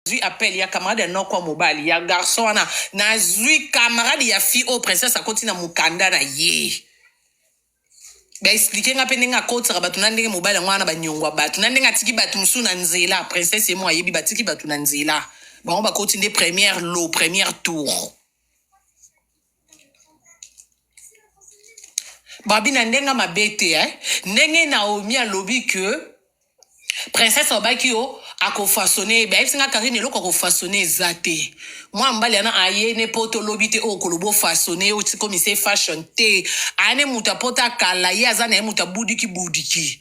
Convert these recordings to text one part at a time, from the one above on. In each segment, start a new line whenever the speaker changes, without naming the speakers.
nazwi appel ya camarade ya noko ya mobali ya garçon wana nazwi camarade ya fille oyo princesse akoti na mokanda na ye baexplike nga mpe ndenge akotisaka bato na ndenge mobali yango wana banyongwa bato na ndenge atiki bato mosusu na nzela princesse ye mo ayebi batiki bato na nzela bango bakoti nde première lo première tour babi na ndenge mabe te eh? ndenge naomi alobi ke princesse abaki yo akofasone ye bayebisi nga karine eloko akofasone eza te mwa mbali yana aye ne poto lobi te oyo koloba ofasone ye otikomise fashion te aye ne moto apota kala ye aza na ye moto abudiki budiki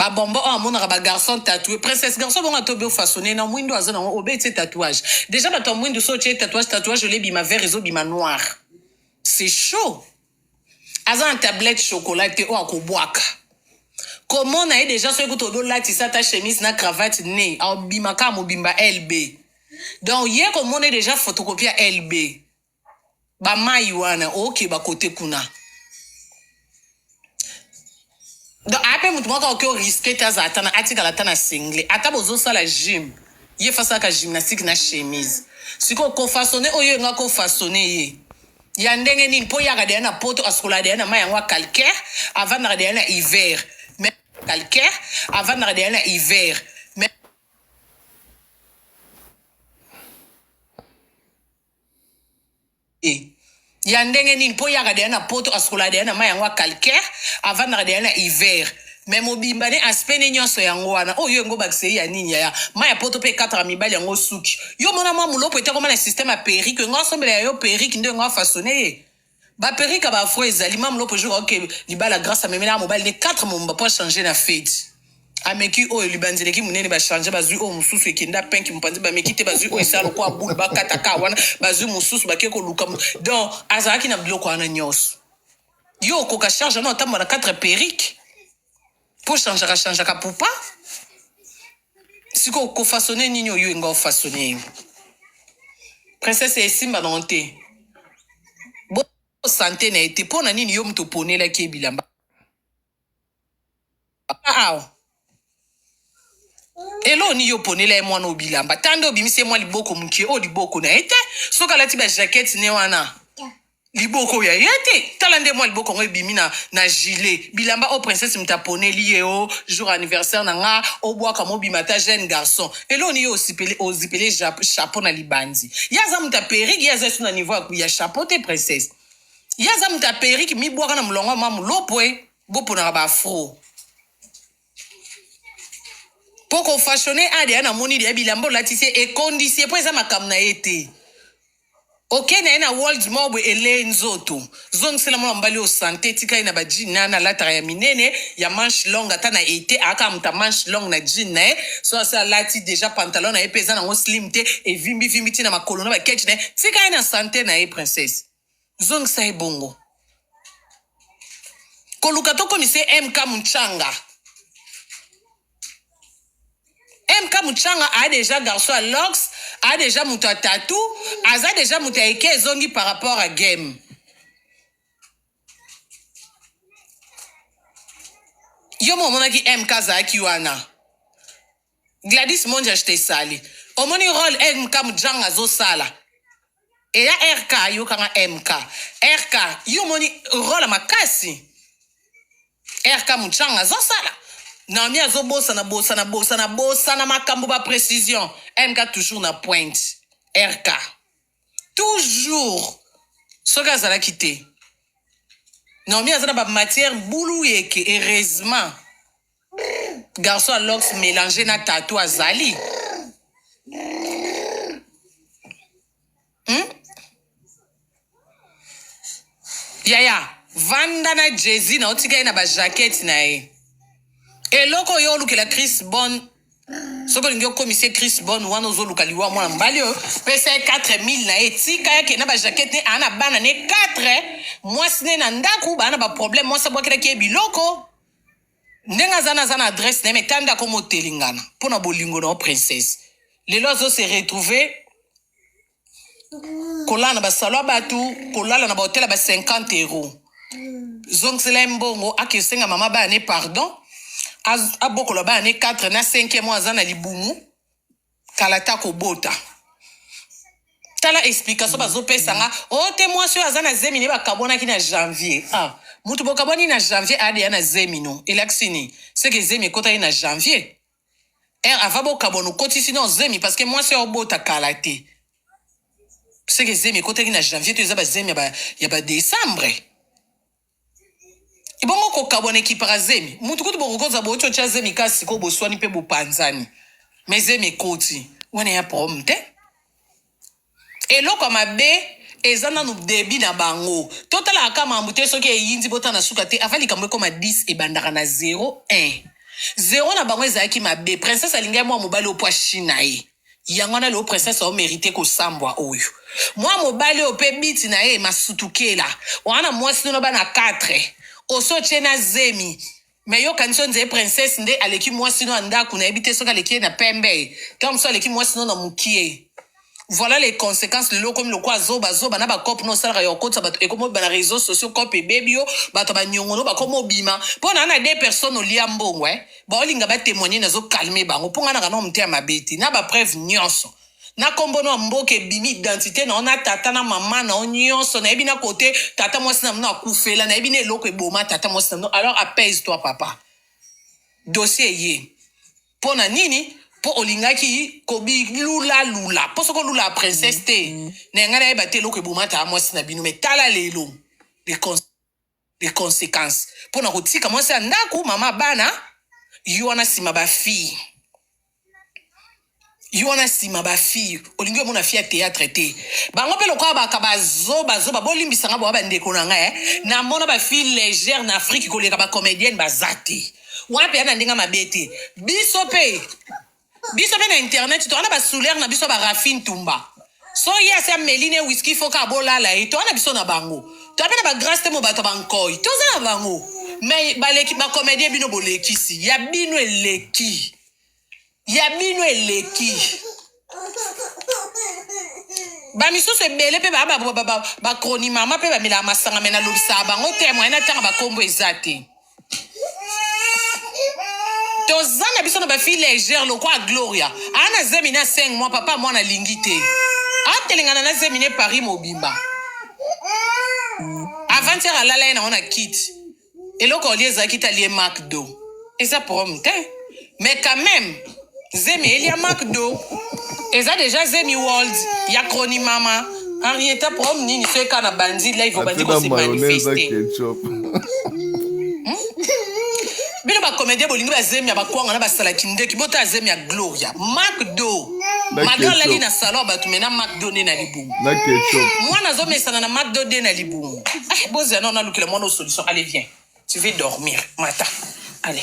ba bombo oyo amonaka ba garçon tatoué princesse garçon bongo atobi ofasone na mwindu aza nango obeti ye tatouage déjà bato ya mwindu so otye tatouage tatouage olie bima vert ezobima noir c'est chaud aza na tablette chocolat te oyo akobwaka komona ye déjà soki kutu odolatisa ata chemise na cravate ne aobima kaka mobimba lb donc ye komona ye déjà photocopie ya lb Ba mayi wana okeba kote kuna. Donc ape mutu moko oke o risque te azala tana atikala ata na single ata bozo sala gym ye fasaka gymnastique na chemise siko ko façonner oyo nga ko façonner ye ya ndenge nini po yaka deya na poto asukola deya na mai yango ya calcaire avandaka deya na hiver mais calcaire avandaka deya na hiver mais te ya ndenge nini mpo yaka deya na poto asukolaka deya na mai yango ya calcaire avandaka deya na hiver me mobimba ne aspect ne nyonso yango wana oyo yo engobakisa ye ya nini yaya mai ya poto mpe ekataka mibali yango suki yo mona mwa moloko ete akoma na systeme ya perike engo asombela ya yo perike nde engo afasone ye Ba perruque ya ba afro ezali mame lopo jour aoke libala grace amemela mobali ne 4 momba po achange na feti ameki oyo libanzi eleki monene bachange bazwi oyo mosusu ekenda penki mopanzi bameki te bazwi oyo esala lokola bule bakata ka wana bazwi mosusu bake koluka mo- donc azalaki na biloko wana nyonso yo okoka charge wana otambola na 4 perruque ko changeaka changeaka pupa sikoyo kofasone nini oyo enga ofasone ye princese esimba nango te bo sante na ye te mpo na nini yo moto oponelaki ye bilamba awa eloo nini yo oponela ye mwana oyo bilamba ta nde obimisi ye mwa liboko moke oyo liboko na ye te soki alati bajakete ne wana liboko ya ye te tala nde mwa liboko yango ebimi na, na gilet bilamba oyo princesse moto aponeli ye o jour anniversaire na nga obwaka mobima ata jeune garçon eloo ni yo osipele ozipele ja- chapeau na libanzi ye aza moto ya perike ye aza esu na niveau ya- ya chapeau te princesse ye aza moto ya perike mibwaka na molongo ya mwa molopwe boponaka baafro mpo kofashone ade ya namoni ya bilamba olatisi ye ekondisi ye mpo eza makambo na ye te Oke naye na world mob elee nzoto zongisela mwana mobali oyo sante tika ye na ba jean naye analataka ya minene ya manche longue ata na ete aakaka moto ya manche longue na jean naye soki asi alati deja pantalon naye pe eza nango slim te evimbi vimbi ti na makolo na ba ketch naye tika ye na sante naye princesse zongisa ye bongo koluka tokomisa ye mk munchanga MK Muchanga a déjà garçon à Lox, a déjà moto à tatou, aza déjà moto à eke ezongi par rapport à game. Yo mo monaki MK azalaki wana. Gladys Monja je te sali. Omoni rôle MK Muchanga zo sala. Et là RK yo kanga MK. RK yo moni rôle makasi. RK Muchanga azo sala Naomi azo bosana bosana bosana bosana makambo ba precision MK toujours na pointe RK toujours soki azalaki te Naomi aza na ba matière bulu yeke heureusement garçon ya lox mélange na tatou azali Hmm? Yaya, vanda na Jay-Z na otika ye na ba jaquette na ye. Eloko oyo olukela Chris Bon soki olingi okomisa ye Chris Bon wana ozoluka liwa mwana mobali oyo pesa ye 4000 na ye tika ye akenda ba jaquette ne aa na bana ne 4 mwasi ne na ndako baa na ba problème mwasi abwakelaki ye biloko ndenge aza na aza na adresse na ye me tanda akoma otelengana mpo na bolingo na yo princesse lelo azo se retrouver kolala na basalo ya bato kolala na bahotel ya ba 50 euro zongisela ye mbongo akesenga mama bana ne pardon abokola bana ne 4 na 5 mwa aza na libumu kala ta kobota tala explication bazopesa nga o oh, te mwasi oyo aza na zemi ne bakabwanaki na janvier ah, moto bokabwani na janvier adeya na zemi no elakisi nini seke zemi ekotaki na janvier Heure ava bokabona okotisi nao zemi parce que mwasi oyo obota kala te seke zemi ekotaki na janvier to eza bazemi ya ba- ya badecembre ebongo kokabwana ekipaka zemi mutu kutu bokokoza bouti otya zemi kasi sikoyo boswani mpe bopanzani me zemi ekoti wana ya problème te Eloko ya mabe eza nanu debut na bango totalaka kaka makambo te soki eyindi botala na suka te avant likambo ekoma 10 ebandaka na zero un zero na bango ezalaki mabe princesse alingaki mua mobali oyo po ashi na ye yango wana lelo princesse ao merite kosambwa oyo mua mobali oyo pe biti na ye masutukela wana muasi no na bana 4 osi otie na zemi Mais yo kanisi yo nzee princesse nde aleki mwasi no ya ndaku nayebi te soki aleki ye na pembe to mosusu aleki mwasi no na mukie voilà les conséquences lelo okomi lokola zoba zoba na bacope no osalaka ya kokotisa bato ekomi obima na réseaux sociaux cope ebebi yo bato ya baniongo no bakomi obima mpo na na deux personnes olia mbongo eh baolinga batémoigne nazokalme bango mpo ngai naka nao moteya mabe te na bapreuve nyonso na kombo na mboka ebimi identite na yo na tata na mama na yo nyonso nayebi na kote tata mwasi na mino akufela nayebi na eloko eboma tata mwasi na mino alors apaise toi papa dossier eye mpo na nini mpo olingaki kobilulalula mpo soki olula princesse te mm-hmm. na yangai nayeba te eloko eboma tata mwasi na bino me tala lelo les consequences mpo na kotika mwasi ya ndako mama bana yo wana nsima bafille yo wana nsima bafille olingi omona fille ya théâtre te bango mpe lokola baka bazoba zoba bolimbisa nga boa bandeko na ngai eh. namona bafille légère na afrique koleka bacomédienne baza te wana mpe ya na ndenge mabe te biso mpe biso mpe na internet toza na basouler na biso barafine tumba so ye asi ameli ne wiski fo kaka bolala ye toza na biso na bango toza mpe na bagrace te mo bato ya bankoi toza na bango mai baleki bakomedie bino bolekisi ya bino eleki ya bino eleki bamisusu ebele mpe bacronimama mpe bamelaka masanga me nalobisaka bango te moye natanga bakombo eza te toza na biso na bafille légère lokola gloria aa na zemi na 5 mois papa mwana alingi te atelengana na zemi ne paris mobimba avantiere alala ye nango na kiti eloko olie ezalaki te alie makdo eza problème te Mais quand même, zemi elia McDo. Eza déjà zemi world ya chroni mama. Henrietta prom nini soki kaka na bandi live obandi ko se manifester. bino bacomédien bolingi bazemi ya bakwanga na basalaki ndeki botala zemi ya gloria macdo malgre alali na salon ya bato mena macdo nde na libumu
mwana azomesana na
macdo nde na libumu ah, bozela nao nalukela mwana osolution ale vien tu veux dormir mata ale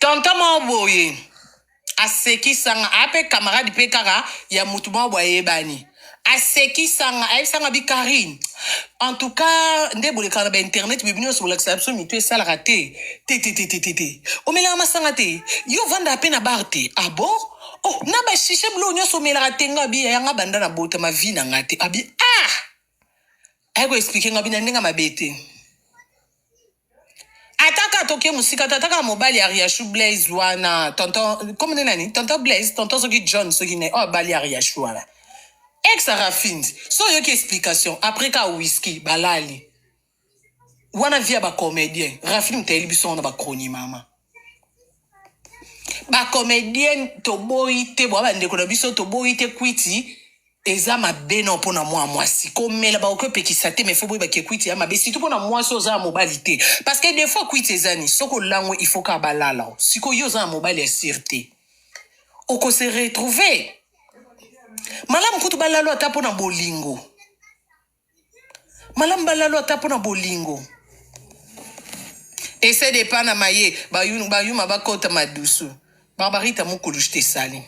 Tonton moko boye asekisanga ape camarade pe kaka ya mutu moko boye ayebani asekisanga ayebisanga bi Carine en tout cas nde bolekaka na ba internet mais bino nionso bolakisaka biso mitu esalaka te tetetetete omelaka masanga te yo ovandaka pe na bar te ah bon oh na ba shisha biloko nionso omelaka te nga abi yaya nga banda na botama vie na nga te abi ah aye ko explique nga abi na ndenge ya mabe te ata kaka toke mosika tata kaka mobali ya riachou blaise wana tonton komine nani tonton blaise tonton soki john soki nani oyo abali ya riachou wana ex arafindi so oyoki explication après kaka whisky balali wana vie ya bacomédien rafini moto ayeli biso yango na bacroni mama ba comedienne toboyi te bwa bandeko na biso toboyi te kwiti eza mabe nao mpo na mwa mwasi komela bakoki opekisa te mais fo boyeba ke kwiti ya mabe surtout mpo na mwasi oza ya mobali te parce que des fois kwiti ezani soki olango il faut kaka balala sikoyo yo oza ya mobali ya sire te okose retrouver malamu kutu balalo ata mpo na bolingo Malam balalu ata mpo na bolingo. Essaie de pana maye bayuma bakota madusu. Barbarita mukulu je te sali.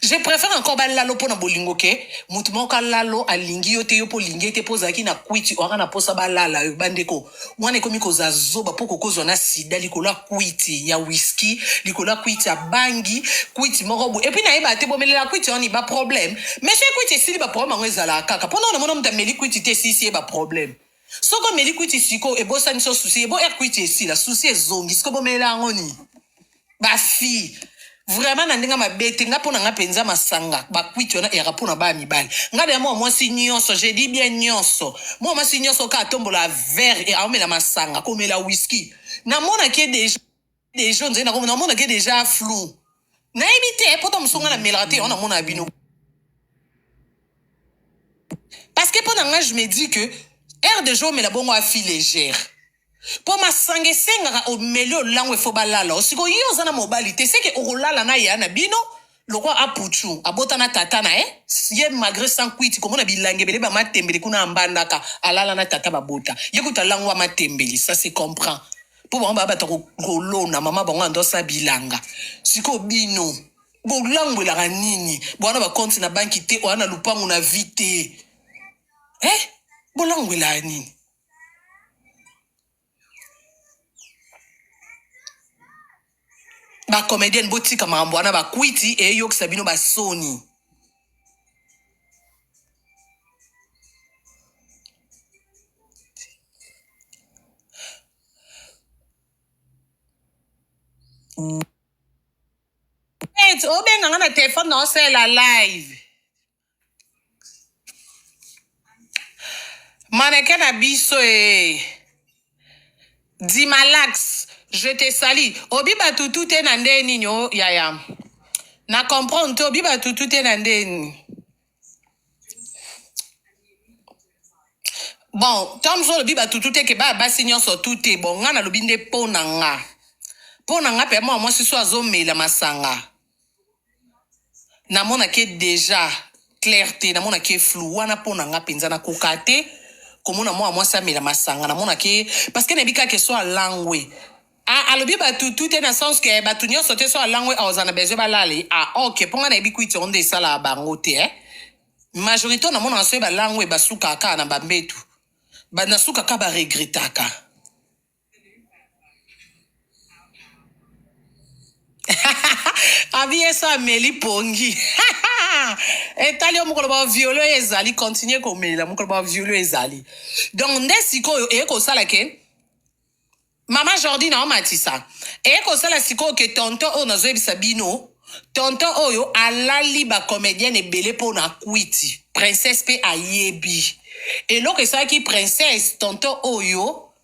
Je préfère encore balalo mpo na bolingo ke moto moko alalo alingi yo te yo mpo olingi ye te mpo ozalaki na kwiti oaka na mposa balala yo bandeko Mwana ekomi koza zoba po kokozwa na sida likolo ya kwiti ya whisky, likolo ya kwiti ya bangi, kwiti moko boye. Epuis nayebaka te bomelela kwiti yango nini ba problème? Mais soki kwiti esili ba problème yango ezalaka kaka po nao namona moto ameli kwiti te esilisi ye ba problème. Soki omeli kwiti sikoyo ebosani so souci, eboyer kwiti esila, souci ezongi sikoyo bomelela yango nini? bafille vraiment na ndenge mabe te nga mpo na nga mpenza masanga bakwiti wana eyaka mpo na baya mibali nga deya mwa mwasi nyonso je dis bien nyonso mwa mwasi nyonso kaka tombola vert e aomela masanga komela whisky namonaki deja deja onzali na komona namonaki deja flou nayebi te mpo ta mosunga na melaka te yango namona bino parce que mpo na nga je me dis que aire de jeu omela bongo afi légère po masanga esengaka omeli olango efo balala o sikoyo yo oza na mobali te seke okolala na ya na bino lokola apuchu abota na tata na ye ye malgre sans kuiti komona bilangi ebele ba matembele kuna ambandaka alala na tata babota ye kutu alangwa matembele ça se comprend po bango baya bato ya ko- kolona mama bango ando asala bilanga sikoyo bino bolangwelaka nini boa na bakonti na banki te oya na lupangu na vi te eh bolangwelaka nini ba comedienne botika makambo wana bakwiti eyokisa bino basoni obenga nga na telefone na osala live Maneke na biso ee. Dimalax, je te salis. Obi batutu te na ndenge nini o yaya? Na comprendre te obi batutu te na ndenge nini? Bon, Tom so olobi batutu te ke ba basi nyonso tu te. Bon, nga nalobi nde po na nga. Po na nga pe mwa mwasi so azomela masanga. namona ke deja claire te namona ke flou wana mpo na nga mpenza nakoka te komona mwana mwasi amela masanga namona ke parce que nayebi kaka eso alangwe Ah, alobi bato tu te na sens ke bato nyonso te so alangwe aoza na besoin balali ah, ok mpo nga nayebi kwiti yango nde esalaka bango te eh? majorité oyo namonaka soki balangwe basukaka kaka na bambetu Ba- nasukaka baregretaka abi ye so ameli pongi etali yo mokolo baviole oyo ezali continue komela mokolo baviole oyo ezali donc nde sikoyo eye kosala ke mama jordi na omatisa eye kosala sikoyo ke tonton oyo nazoyebisa bino tonton oyo alali bacomédienne ebele mpo na kwiti princesse mpe ayebi eloko esalaki princesse tonton oyo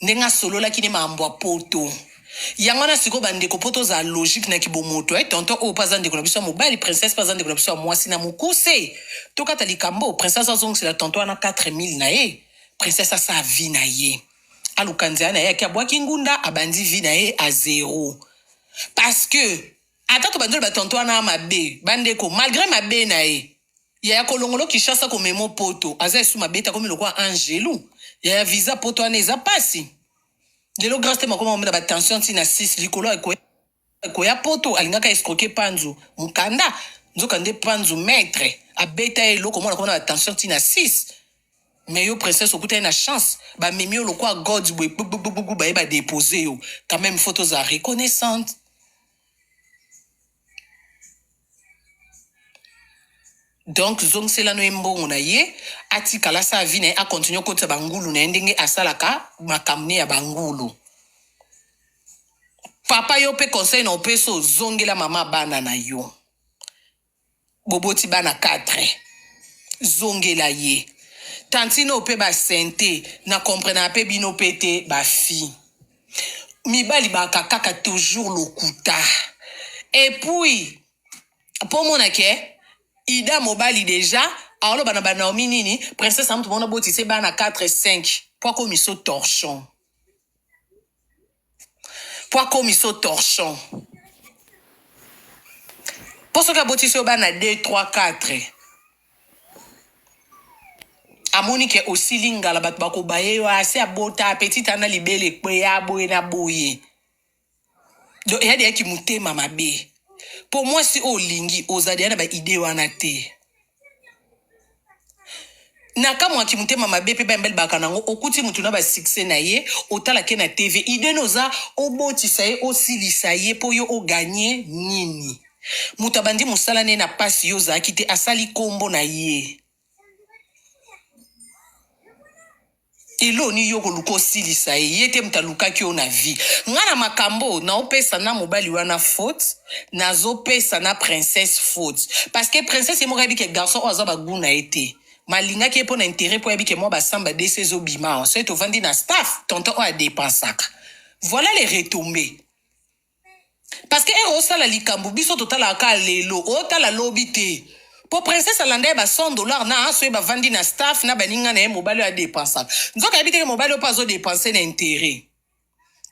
ndenge asololaki ne makambo ya poto yango wana sikoyo bandeko mpo tozala logique na kibomoto e eh, tonton oyo mpe aza ndeko na biso ya mobali princesse mpe aza ndeko na biso ya mwasi na mokuse tokata likambo princesse azongisela tonton wana 4000 na ye princesse asala vi na ye aluka nzela na ye ake abwaki ngunda abandi vi na ye a zero parce que ata tobandi oloba tonton wana mabe bandeko malgré mabe na ye Yaya kolongolo Kinshasa komemo poto aza esu mabeta komi lokola angelu yaya visa poto wana eza pasi lelo grace te makoma omela batension ntina 6 likolo ekoya ekoya poto alingaka escroke panzu mokanda nzoka nde panzu maitre abeta ye eloko mwana komona batension ntina 6 me yo princesse okutani na chance bamemi yo lokola god boye gbugbugbugu baye badepose yo quand même faut tozala reconnaissante donc zongisela no ye mbongo na ye atikala sa vie na ye akontinue kotisa bangulu na ye ndenge asalaka makambo ne ya bangulu papa yo mpe conseil na opesi ozongela mama bana na yo Boboti bana quatre. Zongela ye. Tantine oyo pe ba sente na comprenaka pe bino pe te ba fille. Mibali baka kaka toujours lokuta. Et puis po omona ke Ida mobali dejà aoloba na ba Naomi nini princesse na mutu moko nabotise bana 4 5 po akomiso torchon. po akomi so torchon po soki abotisi yo bana 2 3 4 amoni ke osili ngala bato bakobaye yo asi abota petit ana libele ekweya boye na boye donc eya deya kimotema mabe po mwasi oyo olingi oza deya na baide wana te na kamwe ya kimotema mabe mpe bambe libaka nango okuti motu na basuccès na ye otalake na tv idene oza obotisa ye osilisa ye mpo yo oganye nini moto abandi mosala na ye na mpasi yo ozalaki te asali nkombo na ye Eloni yo koluka osilisa ye ye te moto alukaki yo na vie nga na makambo oyo naopesa na mobali wana faute nazopesa na princesse faute parce que princesse ye moko ayebi ke garçon oyo aza ba gout na ye te mais alingaki ye mpo na interet mpo ayebi ke mwa basamba desi ezobima awa soki tovandi na staff tonton oyo adepensaka voilà les retombes Parceque heure osala likambu biso totalaka kaka lelo otala lobi te po princesse alanda ye ba 100 dollars na soki bavandi na staff na baninga na ye mobali oyo adepensaka nzoka ayebi te ke mobali oyo pe azo depense na interet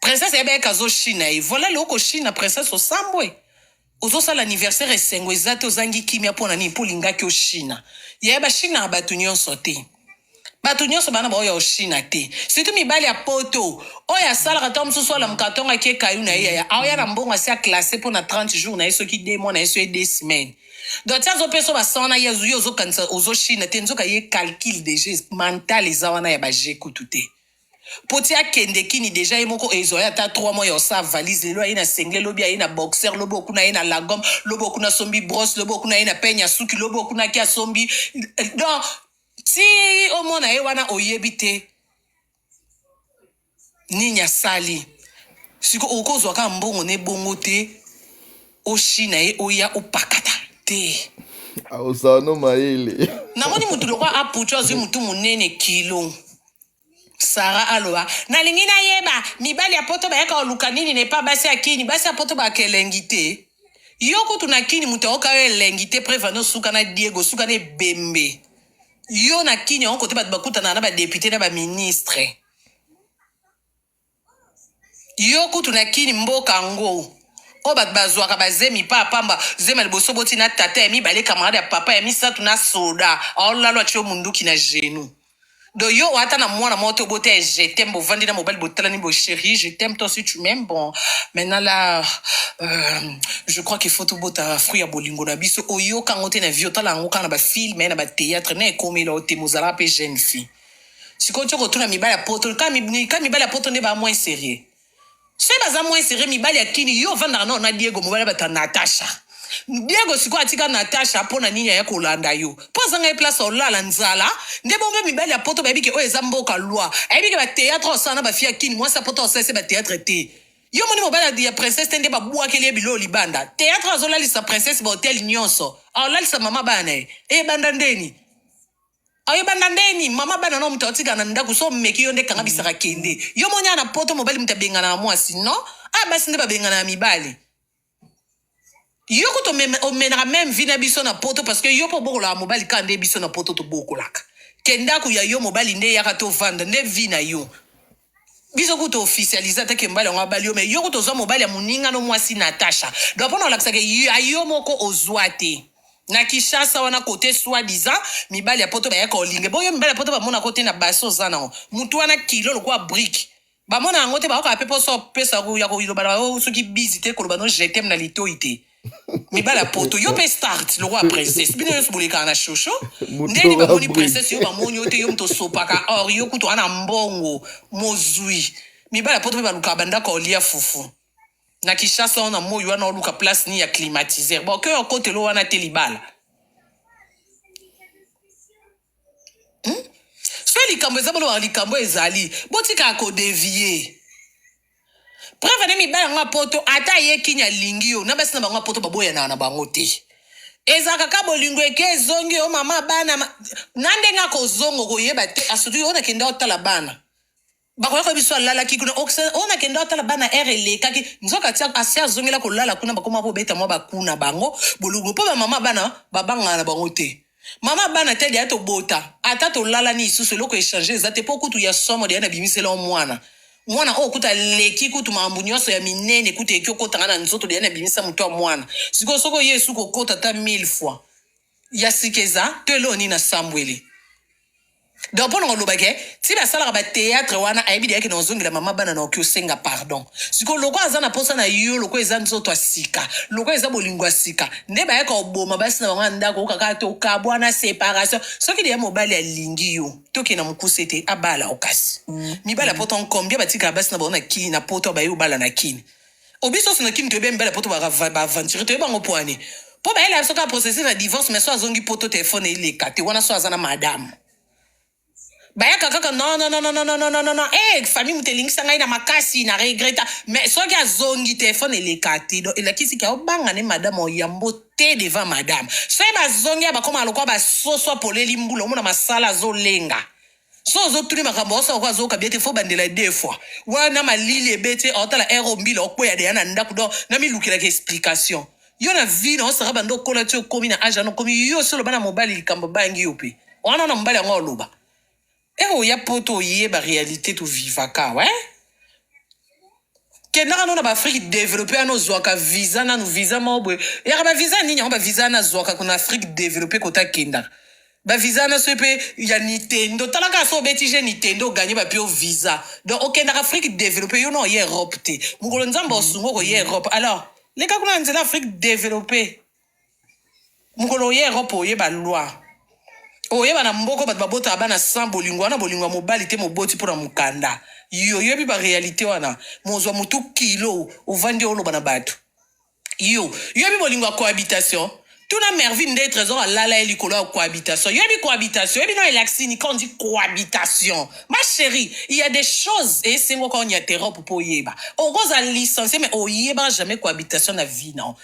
princesse ayebi ayeke azo shina ye voila lelo koshina princesse osambwe ozosala anniversaire esengo eza te ozangi kimia mpo na nini mpo olingaki oshina yaya bashinaka bato nyonso te bato nyonso bana baoyo ya oshina te surtout mibali ya poto oyo asalaka ntango mosusu alamuka ntongo akie kayu na ye yaya aoya na mbongo asi aklasse mpo na 30 jours na ye soki de mwa na ye soki de semaine donc ti azopesa basan wana ye yo ozokanisa ozoshina te nzoka ye calcule deja mental eza wana ya baje kutu te mpo ti akende kini deja ye moko ezwa ye ata 3 mois ya osa valise lelo aye na sengle lobi aye na boxer lobi okuna ye na lagom lobi okuna asombi brosse lobi okuna ye na peigne ya suki lobi okuna ki asombi donc Tii omona ye wana oyebi te nini asali. Siko okozwa kaka mbongo ne bongo te oshi na ye oya opakata te. Aosano
mayele. Namoni mutu lokwa
apucho azwi mutu munene kilo. Sarah aloba nalingi nayeba mibali ya poto bayaka koluka nini na epa basi ya kini basi ya poto baka elengi te yo kutu na kini moto ayoka yo elengi te preuve ane osuka na diego osuka na ebembe yo na kini yango kote bato bakutanaka na badepute na baministre Yo kutu na kin mboka ango oyo batu bazuaka ba zemi pa pamba zemi ya liboso boti na tata ya mibale camarade ya papa ya misatu na soda aolalo atie yo munduki na genou do yo oata na mwana moko te obota ya je t'aime bovandi na mobali botalani bo cherie je t'aime toi si tu m'aimes bon maintenant la euh, je crois qu'il faut tobota fruit ya bolingo na biso oyoka yango te na vie otala yango kaka na ba film na ba theatre na ekomela yo te mozalaka pe jeune fille sikoyo tyo kotuna mibali ya poto ka mibali ya poto nde baa moins serieux soki baza moins serieux mibali ya kini yo ovandaka nao na diego mobali bato ya natasha diego sikoyo atika natasha mpo na nini aya kolanda yo mpo azanga ye place olala nzala nde bombe mibali ya poto bayebi ke oyo eza mboka loi ayebi ke bateatre osala na bafi ya kini mwasi ya poto osalisi bateatre te yo moni mobali ya princesse te nde babwakeli ye biloo libanda teatre azolalisa princesse bahotel nyonso aolalisa mama bana na ye ebanda ndeni ayo banda ndeni mama bana no moto atika na ndako so omeki yo nde kanga bisaka kende yo moni na poto mobali moto abengana na mwasi no a ah, basi nde babengana ya mibali yo kutu omenaka meme vi na biso na poto parce que yo mpo obokolaka mobali kaka nde biso na poto tobokolaka ke ndako ya yo mobali nde eyaka tovanda nde vi na yo biso kutu officialise ata ke mobali yango abali yo me yo kutu ozwa mobali ya moninga no mwasi natasha donc mpona olakisaka ya yo moko ozwa te na kishasa wana kote soi disant mibali ya poto bayaka olinge boyo mibali ya poto bamona kote na basi oza nango motu wana kilo lokola brike bamona yango te baokaa mpe mposa opesa ya koloba na yo soki bizi te koloba no jetem na litoi te mibali ya poto yo mpe start lokola princesse bino nyonso bolekaka na shosho ndeni bamoni princesse yo bamoni yo te yo moto osopaka or yo kutu ana mbongo mozwi mibali ya poto mpe balukaka bandako ya olia fufu na kishasa wana moi wana oluka place ni ya climatiseur boke okotelo wana te libala hmm? so likambo eza boloba likambo ezali botika kodevie preuve ne mibali yango ya poto ata ye kini alingi yo na basi na bango ya poto baboyanaka na bango te ezalaka ka bolingo eke ezongi yo mama bana ma... na ndenge akozonga okoyeba te asutu yo nakenda otala bana Bakoya ko biso alalaki kuna ok se ona kendo atala bana heure elekaki nzoka tia asi azongela kolala kuna bakoma kobeta mwa baku na bango bolubu mpo bamama bana babangana na bango te mama bana te deya tobota ata tolalani lisusu eloko echange eza te mpo kutu ya somo deya nabimisela o mwana mwana oyo kutu aleki kutu makambo nyonso ya minene kutu eki okotanga na nzoto deya nabimisa moto ya mwana sikoyo soko ye esuku okota ata 1000 fois ya sika eza to eloo nini asambweli donc mpo nanga olobaki ntina asalaka bateatre wana ayebi deyaki na ozongela mama bana na oki osenga pardon sikoyo loko aza na mposa na yo loko eza nzoto ya sika loko eza bolingo ya sika nde bayaka oboma basi na bango ya ndako okaka te okabwana separation soki deya mobali alingi yo tokende na mokuse te abala okasi mm. mibali ya poto nkombia batikaka basi na bango na kini na poto baye obala na kini obiso sina kin toyebi mbele poto baaventurier toyebi bango poani mpo bayela biso kaka processus na divorce mais so azongi poto telefone eleka te wana so aza na madame bayaka kaka nonnnnnnnn e eh, famille moto elingisa ngai na makasi na regreta mais soki azongi telefone eleka te don elakisi ke obanga ne madame oyambo te devant madame soki bazongi ya bakoma lokola basoso apoleli mbula omona masala azolenga so ozotuni makambo osa oko azoyoka bie te fo bandela ye deux fois wana malili ebeti aotala ere ombila okweya deya na ndako do namilukelaka explication yo na vi na osaka banda okola ti okomi na age wana okomi yo osi oloba na mobali likambo bangi yo mpe wana na mobali yango oloba ere oya poto oyeba realite tovivaka we kenda kano na ba afrique developpe wana ozwaka visa nanu visa moko boye yaka ba visa nini yango ba visa wana azwaka kuna afrique developpe kota kendaka ba visa wana soki mpe ya nintendo tala kaka so obeti je nintendo oganye bapi o visa donc okendaka afrique developpe yo na oye europe te mokolo nzambe osunga okoye europe alors leka kuna na nzela afrique developpe mokolo oye europe oyeba loi oyeba na mboko bato babotaka bana 100 bolingo wana bolingo ya mobali te moboti mpo na mokanda yo oyebi barealité wana mozwa motu kilo ovandi oloba na bato yo yo yebi bolingo ya cohabitation tuna merville nde trésor alala ye likolo ya cohabitation yo yebi cohabitation yebi no elaksini quand dit cohabitation ma chérie il y a des choses esengo quand on y interrope mpo oyeba okozala licencié mais oyeba jamais cohabitation na vie non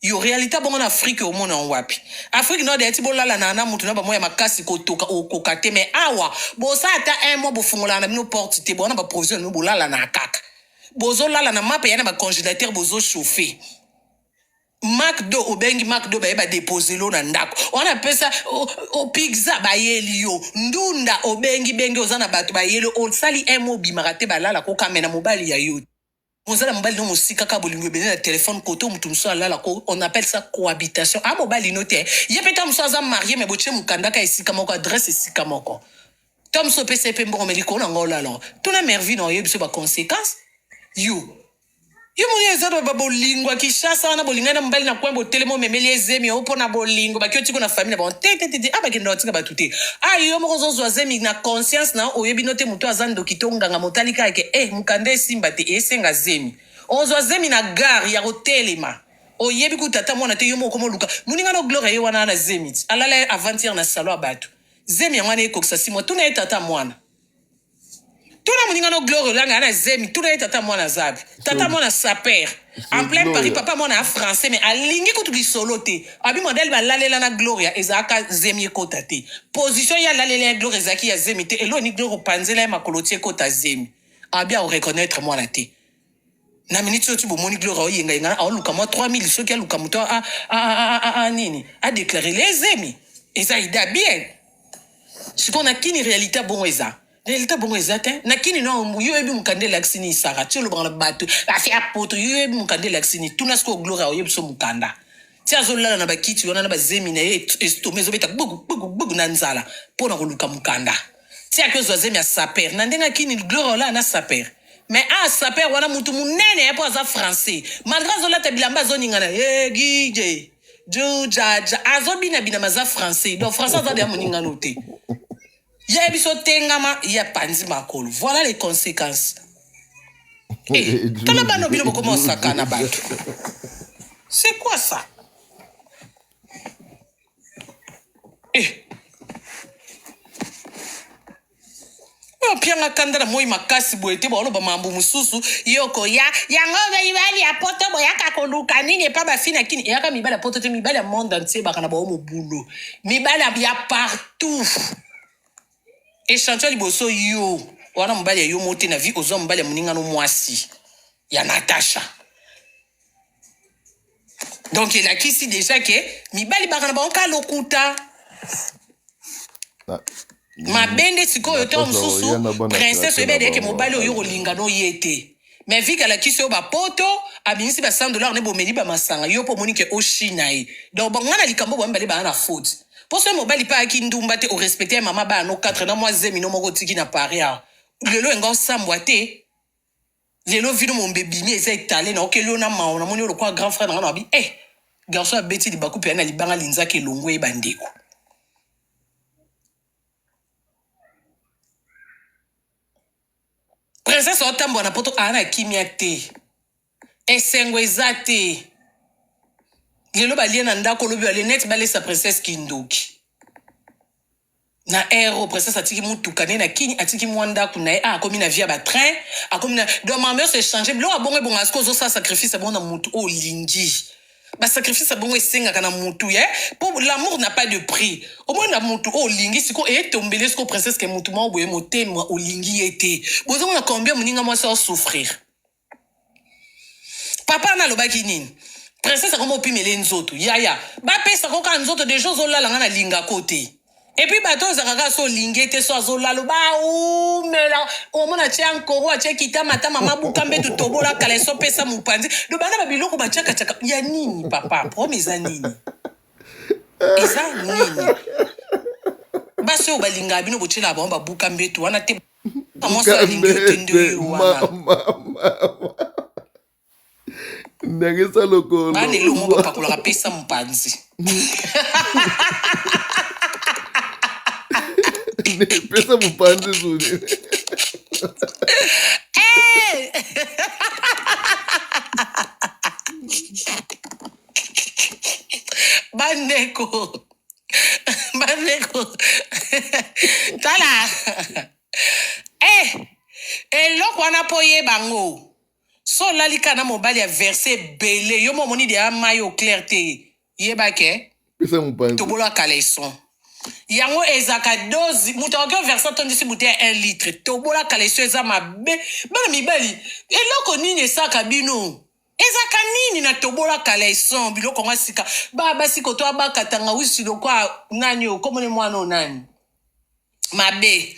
Yo realite bongo na Afrique omona yango wapi? Afrique Nord eti bolalana na mutu na ba moya makasi kotoka okoka te mais awa bosa ata un mois bofungolaka na bino porte te bowana ba provision na bino bolalana kaka bozolala na mapa ya na ba congélateur bozo chauffer McDo obengi McDo baye ba depose lo na ndako wana pesa o, o pizza bayeli yo ndunda obengi bengi oza na bato bayeli osali un mois obimaka te balala kokamena mobali ya yo te. Oza na mobali no mosika kaka bolingo ebele na telephone kote oyo moto mosusu alala ko on appelle ça cohabitation a mobali no te ye mpe ta mosusu aza marie me botie mokanda ka esika moko adresse esika moko ta mosusu opesa ye mpe mbongo me likolo na ngo olala tuna mervi na oyebi biso ba conséquence yo yo moni eza ba- ba- bolingo ya kinshasa wana bolingani na mobali na coin botelema omemeli ye zemi yo mpo na bolingo baki otiko na famille na bango te te te te a bakenda batika bato te a yo moko ozozwa zemi na conscience na yo oyebi no te moto aza ndoki to nganga motali kaka ke eh, Mukanda esimba te esenga zemi ozwa zemi na gare ya kotelema oyebi kutu ata mwana te yo moko komo luka muninga no gloria ye wana na zemi ti alala ye avantir na salon ya batu zemi yango wana ekokisa simwa tuna ye tata mwana tuna muninga no gloria olanga ya na zemi tuna ye tata mwana azabi tata mwana saper en plein paris papa mwana ya français mais alingi kutu lisolo te abi modele balalela na gloria ezalaka zemi ekota te position ye alalela ya gloria ezalaki ya zemi te elo ni gloria opanzela ye makolo ti ekota zemi abi aoreconnaitre mwana te na miniti oyo ti bomoni gloria oyengayenga aoluka mwa 3000 soki aluka moto a, a, a, a, a, nini adeklare le zemi eza ida bien sikoyo na kini realite bongo eza Delta bongo eza te na kini no yo oyebi mokanda elakisi nini sara ti olobaka na bato basi ya poto yo oyebi mokanda elakisi nini tuna sikoyo gloria oyebi so mokanda ti azolala na bakiti wana na bazemi na ye estome ezobeta gbugu gbugu gbugu na nzala mpo na koluka mokanda ti ake ozwa zemi ya saper na ndenge akini gloria olala na saper me a saper wana motu monene ye mpo aza français malgre azolata bilamba azoningana ye gije jujaja azobinabina maza français donc français aza deya moningano te Ya biso tengama ya panzi makolo voilà les consequences eh, tala bano bino bokoma osaka na bato c'est quoi ça eh. opianga kanda na moi makasi boye te baoloba mambo mosusu ye okoya yango mibali ya poto boyaka koluka nini epa bafi na kini eyaka mibali ya poto te mibali ya monde entier baka na bao mobulu mibali ya partout tuf echantio ya liboso yo wana mobali ya yo mote na vie ozwa mobali ya moningano mwasi ya natasha donc elakisi deja ke mibali baka na bango ka lokuta mabe nde sikoyo ntango mosusu princese oyebi ayeke mobali oyo olinga no ye te mais vika alakisi yo bapoto abimisi ba 100 dollars ne bomeli ba masanga yo mpo omoni ke oshina ye donc bango na likambo oyo bamibale baa na faute mpo soki mobali mpe ayaki ndumba te orespecte ya mama bana no 4 na mwa zemi no moko otiki na paris awa lelo enga osambwa te lelo vino mombe ebimi eza etale na okeli yo na mawa namoni yo lokola grand frère na nga na babi eh garçon abeti libaku mpe ya na libanga linzaki elongo ye bandeko Princesse aotambwa na poto aa na kimia te esengo eza te lelo balie na ndako lobi balie neti balesa princesse kindoki na aero princesse atiki motuka nde na kini atiki mwa ndako na ye a ah, akomi na via batrain akomi na donc mamers echange biloko abongo ebonga siko ozosala sacrifice abongo na motu oyo olingi ba sacrifice ya bongo esengaka na mutu ye po l'amour n'a pas de prix omoni na mutu oyo olingi siko etombeli siko princesse ke mutu moko boye motema olingi ye te bozomona combien moninga mwasi osouffrir papa wana alobaki nini princesse akoma opimele nzoto yaya bapesa koka nzoto deja ozolala nga na lingako te epuis bato oyo ozalaka kaka so olingi ete so azolalo baumela omona atye ankoro atye kitamatama mabuka mbetu tobola kala eso pesa mopanzi do bana babiloko batyakatyaka ya nini papa problème eza nini eza nini basi oyo balingaka bino botyelaka bango babuka mbetu wana te mwasi alingi yo te nde oyo wana
ndenge eza lokolo bana elongo bapakolaka
pesa mopanzi
pesa mopanzi zuni
bandeko bandeko tala eh, eloko wana mpo oyeba yango So olali kaka na mobali ya verse ebele yo mo omoni deja mai au clair te yeba ke pesa mopanzi
tobolo ya caleçon
yango ezalaka dozi moto akoki overse atondisi bute ya 1 litre tobola caleçon eza mabe bana mibali eloko nini esaka bino ezaka nini na tobola caleçon biloko yango ya sika ba basi koto abakatanga wisi lokwa nani okomoni mwana oyo nani mabe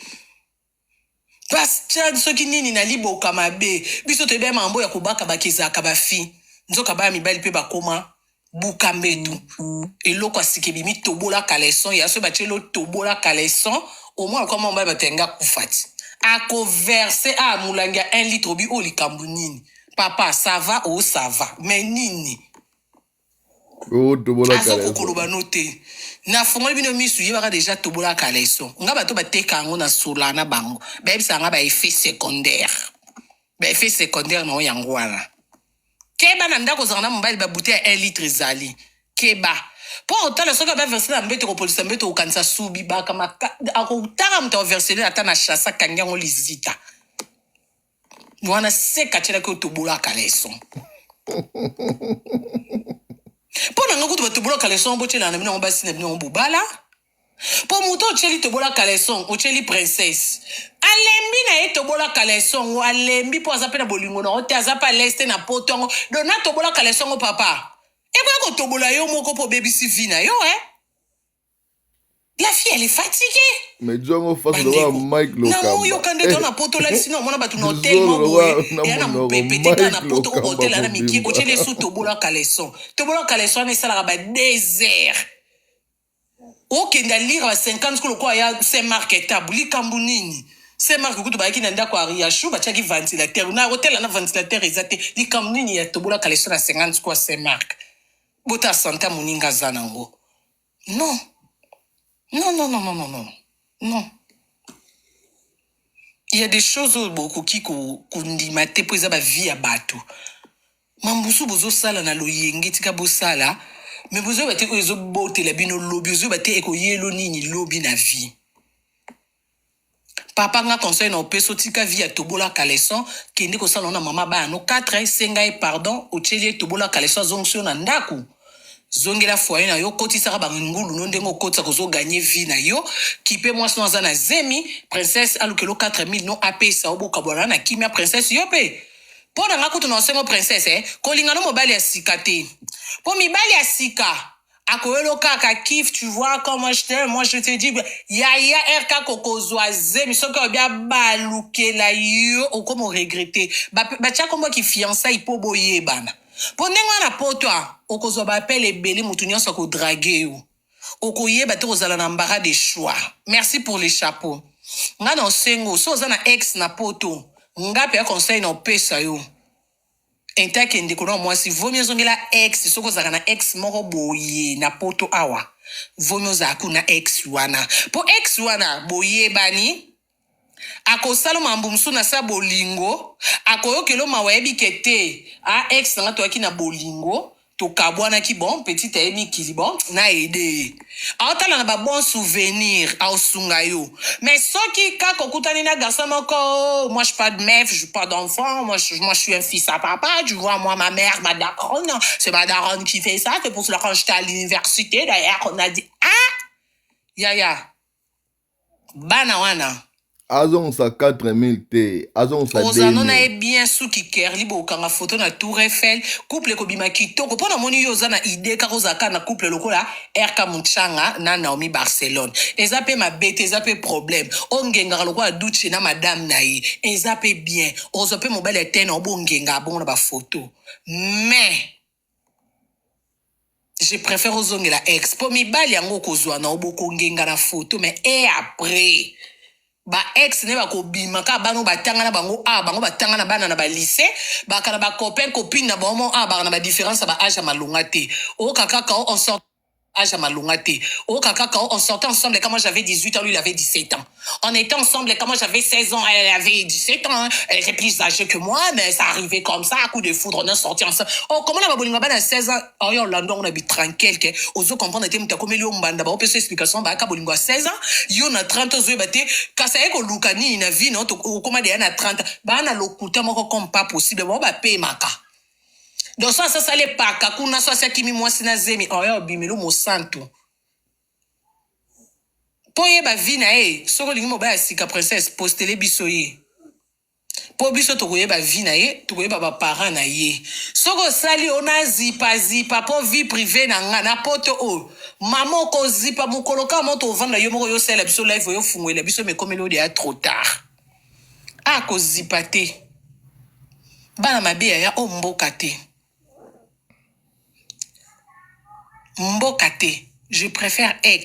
Bastien soki nini na liboka mabe biso toyebi ya mambo ya kobaka baki ezalaka ba fi nzoka baya mibali pe bakoma buka mbetu eloko ya sika ebimi tobola caleçon ya soki batie lo tobola caleçon omona lokola mwa mobali bato ya nga kufa ti ako verse a molangi ya 1 litre obi oyo likambo nini papa ça va o ça va mais nini
azoko koloba no te
nafungoli bino misu yebaka deja tobola kaleso nga bato bateka yango na sola na bango bayebisa nga ba effet secondaire ba effet secondaire na yo yango wana keba na ndako ozanga na mobali babute ya 1 litre ezali keba mpo otala soki abaverse na mbeto kopolisa mbeto okokanisa subi baka akotaka moto akoversele ata na chasa kangi yango lizita Mwana seka atyelaki otobolaka leson mpo na ngai kutu batobolaka leson yango botyelana na bino yango basi na bino yango bobala mpo moto otyeli tobolaka leson otyeli princesse alembi na ye tobolaka leson yango alembi mpo aza mpe na bolingo na yango te aza mpe alese te na poto yango dona tobolaka leson yango papa ekoya kotobola yo moko mpo obebisi vi na yo e eh? La fille, elle est fatiguée. mais jo yango fasi
lokola mike na lokamba oyoka nde to na poto
lalisi na omona bato na Eh, hotel moko Zolo, boye wana eya na monoko, mopepe te kaka na Mike poto Lokamba okotel ana mobimba. mikie kotyela esu tobola caleson tobola caleson wana esalaka ba désert okenda lire ba 50 ko lokola ya saint mark etabu likambo nini saint mark kutu bayaki na ndako ya riachou batyaki ventilateur na hotel ana ventilateur eza te likambo nini ya tobola caleson na 50 ko ya saint mark bota santa moninga aza nango non non non non non non non il y a des choses oyo bokoki kondima te mpo eza bavie ya bato mambusu bozosala na loyenge tika bosala me bozoyeba te oyo ezobotela bino lobi ozoyeba te ekoyelo nini lobi na vie Papa nga conseil na opeso tika vie ya tobola caleçon kende kosala ngo na mama bana no 4 senga ye pardon otieli ye tobola caleçon azongisi yo na ndaku zongela foyer na yo kotisaka ba ngulu no ndenge okotisa kozo gagner vie na yo kipe mwasi no aza na zemi princesse alukelo 4000 no apesa yo bokabwana na kimia princesse yo pe mpo na nga kutu na osengo princesse eh, kolinga no mobali ya sika te mpo mibali ya sika akoyolo kaka kif tu vois comment je t'aime moi je te dis yaya rk kokozwa zemi soki obi abalukela yo okomo regrete batya kombo ki fiançai mpo boyebana mpo ndenge wana poto okozwa baapele ebele moto nyonso akodrage yo okoyeba te kozala na mbara de choix merci pour le chapeau nga na osengo so oza na ex na poto nga mpe ya conseil na opesa yo Tintin ke ndeko nao mwasi vomi ozongela ex soki ozalaka na ex moko boye na poto awa vomi ozala ku na ex wana po ex wana boyebani akosalo mambo mosusu na sa bolingo akoyokelo mawa yebi ke te a ex nanga toyaki na bolingo tokabwanaki bon petit aye mikili bon na aide ye aotala na ba bon souvenir aosunga yo mais soki kaka okutani na garçon moko oh, moi je pas de meuf je pas d'enfant moi, je, moi je suis un fils à papa tu vois moi ma mère ma daronne c'est ma daronne qui fait ça c'est pour cela quand j'étais à l'université d'ailleurs on a dit ah yaya bana wana azongisa 4000
te azongisa ozano na ye bien
suki kerli bokanga foto na tour eiffel couple ekobima kitoko mpo namoni yo oza na idee kaka ozala kaka na couple lokola rk muchanga na naomi barcelone eza mpe mabe te eza mpe problème ongengaka lokola duce na madame na ye eza mpe bien ozwa mpe mobali ya tena obongenga abongo na bafoto mais je préfère ozongela ex po mibali yango okozwa na obokongenga na photo mais e après ba ex ne bakobima kaka bana batanga na bango a bango batanga na bana na ba lycée baka na ba copain copine na bango a baka na ba différence ya ba age ya malonga te oyoka kaka o sort âge ya malonga te oyoka kaka on sortait ensemble quand moi j'avais 18 ans lui il avait 17 ans on était ensemble quand moi j'avais 16 ans elle avait 17 ans hein. elle était plus âgée que moi mais ça arrivait comme ça à coup de foudre on a sorti ensemble oh comment na babolinga bana 16 ans oh yo lando on a bi tranquille ke ozo comprendre te mutakomeli yo mbanda ba opesa explication ba ka bolingo 16 ans yo na 30 ozo ba te kasa eko luka ni na vie no okoma de na 30 bana lokuta moko comme pas possible ba ba pemaka donc so asasali epaka kuna so asi akimi mwasi na zemi oya obimelu mosantu mpo oyeba vi na ye soki olingi mobali ya sika princesse postele biso ye mpo biso tokoyeba vi na ye tokoyeba baparent na ye soki osali oyo nazipazipa mpo vie prive na nga na poto oyo mama okozipa mokolo kaka moto ovanda yo moko yo osalela biso live oyo ofungwela biso mekomeli oyo deya trop tard aya kozipa te bana mabe yaya o mboka te mboka te je prefere ex